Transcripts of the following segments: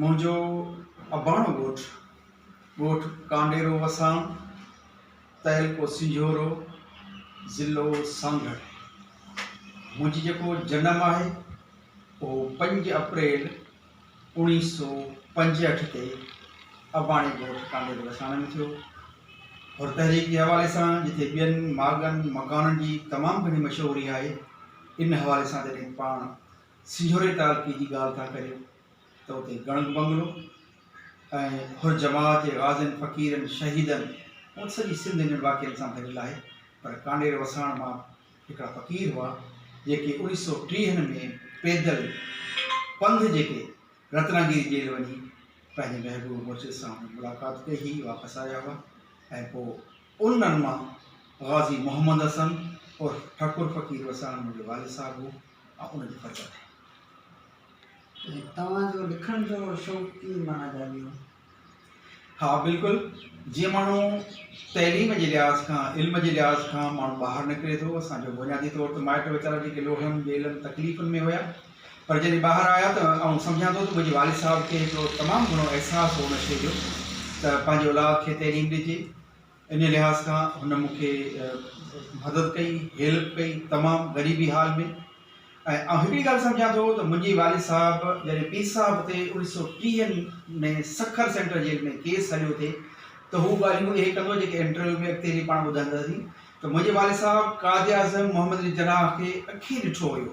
منهنجو اباڻو ڳوٺ، ڳوٺ ڪانڊيرو وسان، تعلقو سنجهورو، ضلعو سانگهڙ. منهنجي جيڪو جنم آهي اهو پنج اپريل اوڻيهه سؤ پنجهٺ تي اباڻي ڳوٺ ڪانڊيرو وسان ۾ ٿيو. حر تحريڪ جي حوالي سان جتي ٻين ماڳن مڪانن جي تمام گهڻي مشهوري آهي ان حوالي سان جڏهن پاڻ سينهوري تعلقي جي ڳالهه ٿا ڪريو ته اتي گڻگ بنگلو ۽ حر جماعت جي غازين، فقيرن، شهيدن ۽ سڄي سنڌ انهن واقعن سان ڀريل آهي پر ڪانڊير وساڻ مان هڪڙا فقير هئا جيڪي اوڻيهه سؤ ٽيهن ۾ پيدل پنڌ جيڪي رتناگيري جيل وڃي پنهنجي محبوب مرشد سان ملاقات ڪئي هئي واپس آيا هئا ۽ پوء انهن مان غازي محمد حسن عرف ٺڪر فقير وساڻ منهنجو والد صاحب هو ۽ ان جي فرزند آهيان. ۽ توهان جو لکڻ جو شوق ڪيئن معنيٰ جاڳيو؟ ها بلڪل جيئن ماڻهو تعليم جي لحاظ کان علم جي لحاظ کان ماڻهو ٻاهر نڪري ٿو اسان جو بنيادي طور ته مائٽ ويچارا جيڪي لوڙهن ٻيلن تڪليفن ۾ هيا پر جڏهن ٻاهر آيا ته آئون سمجهان ٿو ته منهنجي والد صاحب کي هڪڙو تمام گهڻو احساس هو ان شيء جو ته پنهنجي اولاد کي تعليم ڏجي انهي لحاظ کان هن مون کي مدد ڪئي هيلپ ڪئي تمام غريبي حال ۾ ۽ آئون هڪڙي ڳالهه سمجهان ٿو ته منهنجي والد صاحب جڏهن پير صاحب تي اوڻيهه سؤ ٽيهن ۾ سکر سينٽر جيل ۾ ڪيس هليو ٿي ته هو ڳالهيون اهي ڪندو جيڪي انٽرويو ۾ اڳتي هلي پاڻ ٻڌنداسين ته منهنجي والد صاحب قائد اعظم محمد علي جناح کي اکين ڏٺو هيو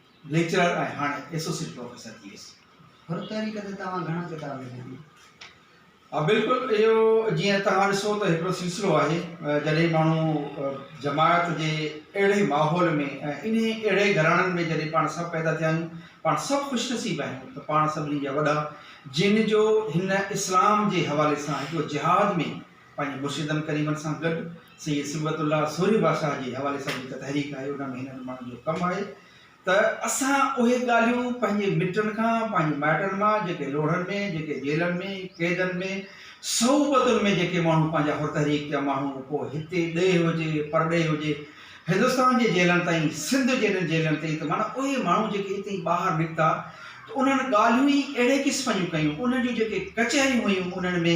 ليڪچرر ۽ هاڻي ايسوسيٽ پروفيسر ٿي ويس. هر تحريڪ تي توهان گهڻا ڪتاب لکيا آهن؟ ها بلڪل اهو جيئن توهان ڏسو ته هڪڙو سلسلو آهي جڏهن ماڻهو جماعت جي اهڙي ماحول ۾ ۽ انهي اهڙي گهراڻن ۾ جڏهن پاڻ سڀ پيدا ٿيا آهيون پاڻ سڀ خوش نصيب آهيون ته پاڻ سڀني جا وڏا جن جو هن اسلام جي حوالي سان هڪڙو جهاد ۾ پنهنجي مرشدن ڪريمن سان گڏ سيد صبغت الله سورهيه بادشاهه جي حوالي سان جيڪا تحريڪ آهي ان ۾ هنن ماڻهن جو ڪم آهي ته اسان اهي ڳالهيون پنهنجي مٽن کان پنهنجي مائٽن مان جيڪي لوڙهن ۾ جيڪي جيلن ۾ قيدن ۾ صعوبتن ۾ جيڪي ماڻهو پنهنجا حر تحريڪ جا ماڻهو پوء هتي ڏيهه هجي پرڏيهه هجي هندستان جي جيلن تائين سنڌ جهڙين جيلن تائين ته معنيٰ اهي ماڻهو جيڪي هتي ٻاهر نڪتا ته انهن ڳالهيون ئي اهڙي قسم جون ڪيون انهن جون جيڪي ڪچهريون هيون انهن ۾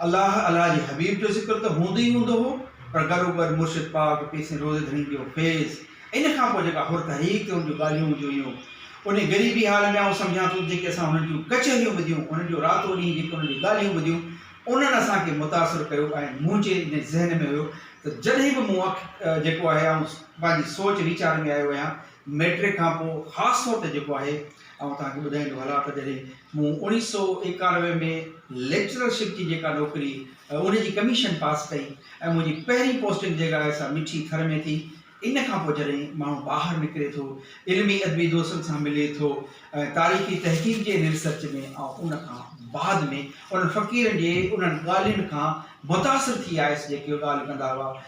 الله الله جي حبيب جو ذڪر ته هوندو ئي هوندو هو پر گڏوگڏ مرشد پاڪ پير سين روضي ڌڻي جو فيض ان کان پوء جيڪا حر تحريڪ تي هن جون ڳالهيون هونديون هيون انهي غريبي حال ۾ آئون سمجهان ٿو ته جيڪي اسان هنن جون ڪچهريون ٻڌيون هنن جو راتو ڏينهن جيڪي هنن جون ڳالهيون ٻڌيون انهن اسان کي متاثر ڪيو ۽ منهنجي ان ذهن ۾ هيو ته جڏهن به مون اک جيڪو آهي آئون پنهنجي سوچ ويچار ۾ آيو آهيان مئٽرڪ کان پوء خاص طور تي جيڪو آهي آئون توهان کي ٻڌائيندو هلان ته جڏهن مون اوڻيهه سؤ ايڪانوي ۾ ليڪچرر شپ جي جيڪا نوڪري ان جي ڪميشن پاس ڪئي ۽ منهنجي پهرين پوسٽنگ جيڪا آهي سا مٺي ٿر ۾ ٿي ان کان پوء جڏهن ماڻهو ٻاهر نڪري ٿو علمي ادبي دوستن سان ملي ٿو ۽ تاريخي تحقيق جي ان ريسرچ ۾ آئون ان کان بعد ۾ انهن فقيرن جي انهن ڳالهين کان متاثر ٿي آيس جيڪي ڳالهه ڪندا هئا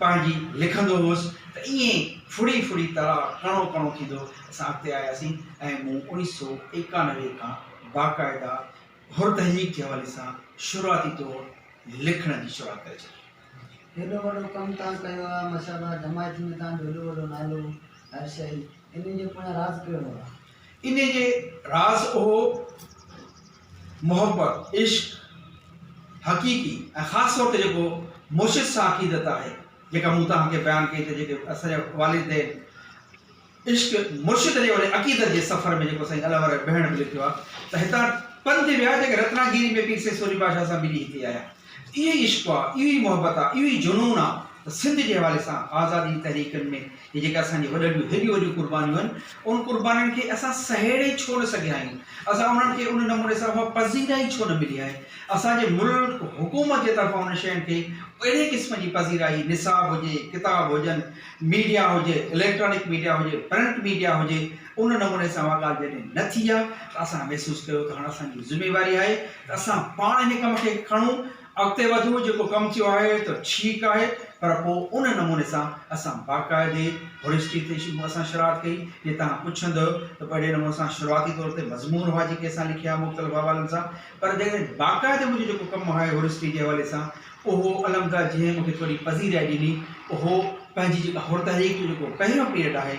پنهنجي لکندو هوس ته ائين ڦڙي ڦڙي تڙاء ڪڻو ڪڻو ٿيندو اسان اڳتي آياسين ۽ مون اوڻيھ سؤ ايڪانوي کان باقاعده حر تحريڪ جي حوالي سان شروعاتي طور لکڻ جي شروعات ڪري ڇڏي. هيڏو وڏو ڪم توهان ڪيو آهي احمد صاحب آء جماعت ۾ توهان جو هيڏو وڏو نالو هر شيء انهي جو پويان راز ڪهڙو آهي؟ انهي جي راز اهو. محبت، عشق، حقيقي ۽ خاص طور تي جيڪو مرشد سان عقيدت آهي، جيڪا مون توهان کي بيان ڪئي ته جيڪي اسان جا والدين عشق مرشد جي وري عقيدت جي سفر ۾ جيڪو سائين علي واري بهڻ به لٿيو آهي ته هتان پنڌ ويا جيڪي رتنا گيري ۾ پير سيد سوري بادشاهه سان ملي هتي آيا. اهو ئي عشق آ، اهو ئي محبت آ، اهو ئي جنون آ ته سنڌ جي حوالي سان آزادي جي تحريڪن ۾ هي جيڪي اسان جي وڏن جون هيڏيون وڏيون قربانيون آهن، ان قربانين کي اسان سهيڙي ڇو نه سگهيا آهيون؟ اسان انهن کي ان نموني سان اها پذيرائي ڇو نه ملي آهي؟ اسان جي ملڪ حڪومت جي طرفان انهن شين کي اهڙي قسم جي پذيرائي نصاب هجي، ڪتاب هجن، ميڊيا هجي، اليڪٽرانڪ ميڊيا هجي، پرنٽ ميڊيا هجي، ان نموني سان اها ڳالهه جڏهن نه ٿي آهي ته اسان محسوس ڪيو ته هاڻ اسان جي ذميواري آهي ته اسان پاڻ هن ڪم کي کڻون، اڳتي وڌون، جيڪو ڪم ٿيو آهي ته ٺيڪ آهي پر پوء ان نموني سان اسان باقاعدي هوريسٽي تي اسان شروعات ڪئي، جي توهان پڇندؤ ته پوء اهڙي نموني سان سروعاتي طور تي مضمون هئا جيڪي اسان لکيا مختلف حوالن سان پر جڏهن باقاعدي منهنجو جيڪو ڪم آهي هوريسٽي جي حوالي سان اهو الحمدلله جنهن مونکي ٿوري پذيرائي ڏني اهو پنهنجي جيڪا هور تحريڪ جو جيڪو پهريون پيريڊ آهي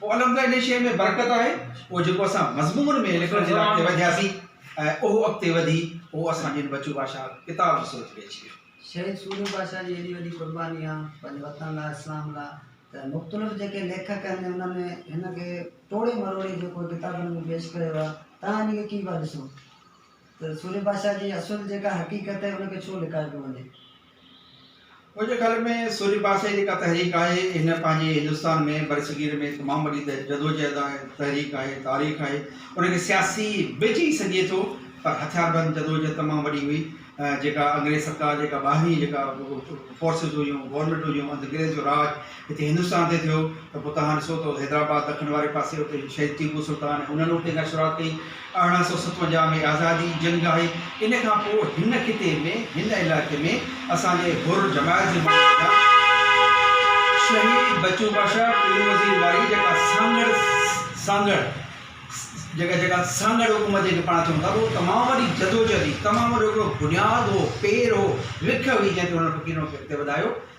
پوء الحمدلله انهيء شيء ۾ برڪت آهي، پوء جيڪو اسان مضمون ۾ لکڻ جي لاء اڳتي وڌياسين ۽ اهو اڳتي وڌي پوء اسان جن بچو باشا ڪتاب جي صورت ۾ اچي ويو. شهيد سوريو باشا جي ايڏي وڏي قرباني آهي پنهنجي وطن لاء اسلام لاء ته مختلف جيڪي ليکڪ آهن انهن ۾ هن کي ٽوڙي مروڙي جيڪو ڪتابن ۾ پيش ڪيو آهي تنهن جي لکي پيا ڏسو. ته سورهيه بادشاهه جي اصل جيڪا حقيقت آهي ان کي ڇو لڪايو پيو وڃي؟ منهنجي خيال ۾ سورهيه بادشاهه جي جيڪا تحريڪ آهي هن پنهنجي هندستان ۾ برصغير ۾ تمام وڏي جدوجهد آهي تحريڪ آهي تاريخ آهي ان کي سياسي به چئي سگهجي ٿو پر هٿيار بند جدوجهد تمام وڏي هئي جيڪا انگريز سرڪار جيڪا ٻاهرين جيڪا فورسز هيون گورنمينٽ هيون انگريز جو راڄ هتي هندستان تي ٿيو ته پوء توهان ڏسو ته حيدرآباد دکڻ واري پاسي اتي شهيد ٽيپو سلطان ۽ انهن اتي کان شروعات ڪئي ارڙهن سؤ ستونجاهه ۾ آزادي جي جنگ آهي ان کان پوء هن خطي ۾ هن علائقي ۾ اسان جي حر جماعت جي ماڻهن جا شهيد بچو بادشاهه پير وزير واري جيڪا سانگهڙ سانگهڙ جيڪا جيڪا سانگهڙ حڪومت جيڪي پاڻ چون ٿا اهو تمام وڏي جدوجهد تمام وڏو هڪڙو بنياد هو پير هو رک هئي جنهن تي هنن فقيرن کي اڳتي وڌايو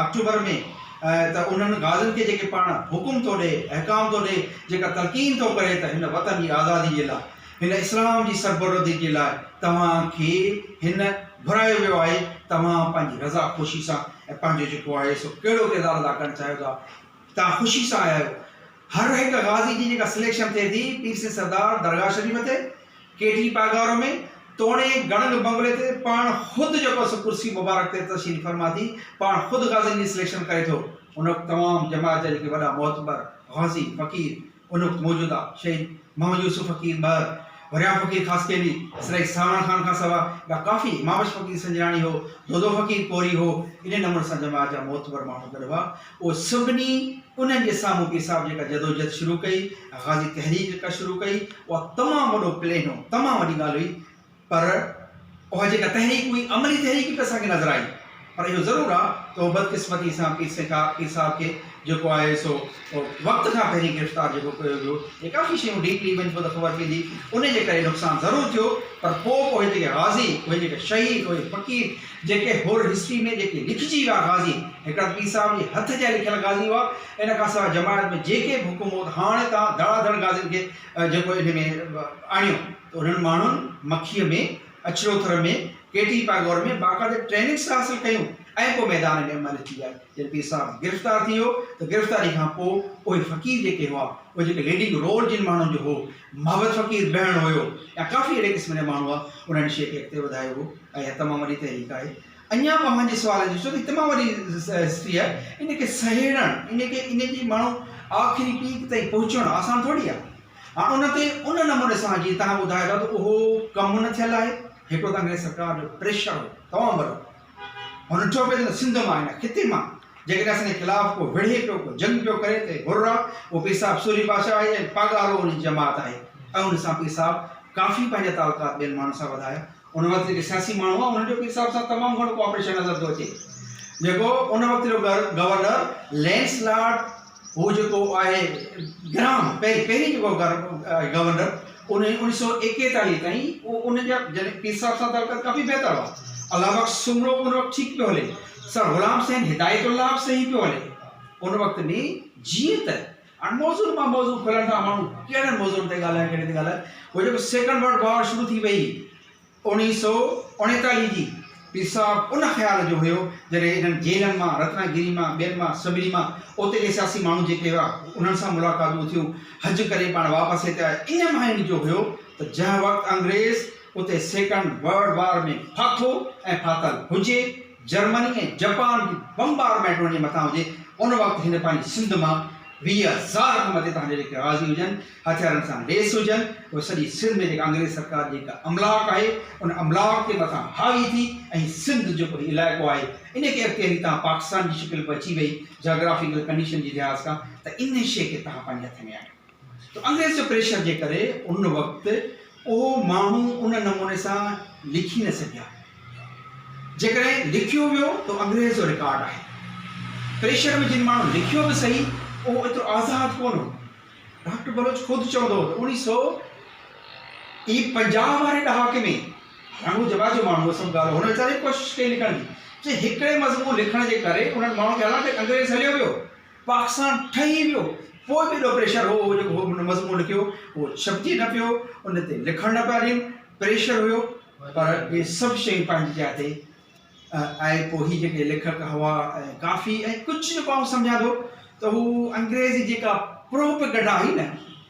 آڪٽوبر ۾ ته انهن غازين کي جيڪي پاڻ حڪم ٿو ڏئي، احڪام ٿو ڏئي، جيڪا تلقين ٿو ڪري ته هن وطن جي آزادي جي لاء، هن اسلام جي سربلندي جي لاء توهان کي هن گهرايو ويو آهي، توهان پنهنجي رضا خوشي سان ۽ پنهنجو جيڪو آهي سو ڪهڙو ڪردار ادا ڪرڻ چاهيو ٿا، توهان خوشي سان آيا آهيو. هر هڪ غازي جي جيڪا سليڪشن ٿئي ٿي پير سين سردار درگاهه شريف تي، ڪي ٽي پاڳارو ۾ توڻي گڙنگ بنگلي تي پاڻ خود جيڪو سو ڪرسي مبارڪ تي تشريف فرما ٿي پاڻ خود غازين جي سليڪشن ڪري ٿو. ان وقت تمام جماعت جا جيڪي وڏا معتبر غازي، فقير، ان وقت موجوده شهيد محمد يوسف فقير ٻهر، وريام فقير خاصخيلي، اسرائي سانوڻ خان کان سوا ٻيا ڪافي، مابش فقير سنجراڻي هو، دودو فقير پوري هو، انهيء نموني سان جماعت جا معتبر ماڻهو گڏ هئا. اهي سڀني انهن جي سامهون پير صاحب جيڪا جدوجهد شروع ڪئي ۽ غازي تحريڪ جيڪا شروع ڪئي، اها تمام وڏو پلين هو، تمام وڏي ڳالهه هئي، پر اها جيڪا تحريڪ هئي عملي تحريڪ به اسان کي نظر آئي پر اهو ضرور آ ته اهو بدقسمتي سان پير سين ڪا پير صاحب کي جيڪو آهي سو وقت کان پهرين گرفتار جيڪو ڪيو ويو هي ڪافي شيون ڊيپلي وڃ پو ته خبر پيندي ان جي ڪري نقصان ضرور ٿيو پر پو اهي جيڪي غازي اهي جيڪي شهيد اهي فقير جيڪي هور هسٽري ۾ جيڪي لکجي ويا غازي هڪڙا ته پير صاحب جي هٿ جا لکيل غازي هئا ان کان سواء جماعت ۾ جيڪي به حڪم هو ته هاڻي تان ڌڙا ڌڙ غازين کي جيڪو ان ۾ آڻيو ته انهن ماڻهن مکيء ۾ اڇروٿر ۾ ڪيٽي پاگور ۾ باقاعده ٽريننگس حاصل ڪيون ۽ پوء ميدان ۾ عمل اچي ويا. جڏهن پير صاحب گرفتار ٿي ويو ته گرفتاري کان پوء اهي فقير جيڪي هئا اهي جيڪي ليڊنگ رول جن ماڻهن جو هو محبت فقير بهڻ هيو يا ڪافي اهڙي قسم جا ماڻهو هئا انهن هن شيء کي اڳتي وڌايو هو ۽ اها تمام وڏي تحريڪ آهي. اڃا اوهان جي سوال جي ڏسو ته هي تمام وڏي هسٽري آهي ان کي سهيڙڻ ان کي ان جي ماڻهو آخري پيڪ تائين پهچڻ آسان ٿورڙي آهي. ها ان تي ان نموني سان جيئن توهان ٻڌايو ٿا ته اهو ڪم نه ٿيل آهي هڪڙو ته انگريز سرڪار جو پريشر هو تمام وڏو هن چيو پئي ته سنڌ مان هن خطي مان جيڪڏهن اسان جي خلاف ڪو وڙهي پيو ڪو جنگ پيو ڪري ته هررا اهو پير صاحب سوري بادشاهه آهي ۽ پاڳارو ان جي جماعت آهي ۽ ان سان پير صاحب ڪافي پنهنجا تعلقات ٻين ماڻهن سان وڌايا ان وقت جيڪي سياسي ماڻهو هئا انهن جو پير صاحب سان تمام گهڻو ڪوآپريشن نظر ٿو اچي جيڪو ان وقت جو گورنر لينس لارڊ هو جيڪو آهي گرام پهرين پهرين جيڪو گورنر انيس سو ايڪيتاليهه تائين ان جا جڏهن پير صاحب سان تعلقات ڪافي بهتر هئا الله بخش سمرو ان وقت ٺيڪ پيو هلي سر غلام حسين هدايت الله به صحيح پيو هلي ان وقت ۾ جيئن ته هاڻ موضوعن مان موضوع کولڻ سان ماڻهو ڪهڙن موضوعن تي ڳالهائي ڪهڙي تي ڳالهائي هو جيڪو سيڪنڊ ورلڊ وار شروع ٿي وئي اوڻيهه سو اوڻيتاليهه جي پير صاحب ان خيال جو هيو جڏهن انهن جيلن مان رتنا گيري مان ٻين مان سڀني مان اوتي جي سياسي ماڻهو جيڪي هئا انهن سان ملاقاتون ٿيون حج ڪري پاڻ واپس هتي آيا ان مان ان جو هيو ته جنهن وقت انگريز اتي سيڪنڊ ورلڊ وار ۾ ڦاٿو ۽ ڦاٿل هجي جرمني ۽ جپان جي بمبارمينٽ هن جي مٿان هجي ان وقت هن پنهنجي سنڌ مان ويهه هزار کان مٿي تهان جا جيڪي غازي هجن هٿيارن سان ليس هجن اهي سڄي سنڌ ۾ جيڪا انگريز سرڪار جي هڪ املاڪ آهي ان املاڪ تي مٿان حاوي ٿي ۽ سنڌ جيڪو هي علائقو آهي ان کي اختياري تهان پاڪستان جي شڪل به اچي وئي جاگرافيڪل ڪنڊيشن جي لحاظ کان ته ان شي کي تهان پنهنجي هٿ ۾ آهي. ته انگريز جي پريشر جي ڪري ان وقت اهو ماڻهو ان نموني سان لکي نه سگهيا. جيڪڏهن لکيو ويو ته انگريز جو رڪارڊ آهي. پريشر ۾ جن ماڻهن لکيو به صحيح اهو ايترو آزاد ڪونه هو. ڊاڪٽر بلوچ خود چوندو هو ته اڻيهه سؤ اي پنجاهه واري ڏهاڪي ۾ هاڻ هو جبا جو ماڻهو هو سڀ ڳالهه هن ويچاري به ڪوشش ڪئي لکڻ جي چي هڪڙي مضمون لکڻ جي ڪري انهن ماڻهن کي حالانڪه انگريز هليو ويو پاڪستان ٺهي ويو پوء به ايڏو پريشر هو اهو جيڪو هن مضمون لکيو اهو ڇپجي نه پيو ان تي لکڻ نه پيا ڏين پريشر هيو پر اهي سڀ شيون پنهنجي جاء تي آهي پوء هي جيڪي ليکڪ هوا ۽ ڪافي ۽ ڪجهه جيڪو آئون سمجهان ٿو ته هو انگريز جي جيڪا پروپيگنڊا هئي نه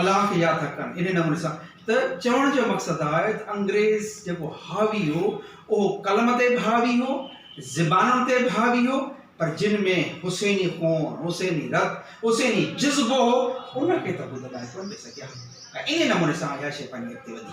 الاف يا ڌڪن انهي نموني سان ته چوڻ جو مقصد آهي ته انگريز جيڪو حاوي هو اهو قلم تي به حاوي هو زبانن تي به حاوي هو پر جن ۾ حسيني خون حسيني رت حسيني جذبو هو ان کي ته هو دٻائي ڪونه پئي سگهيا ۽ انهي نموني سان اها شيء پنهنجي اڳتي وڌي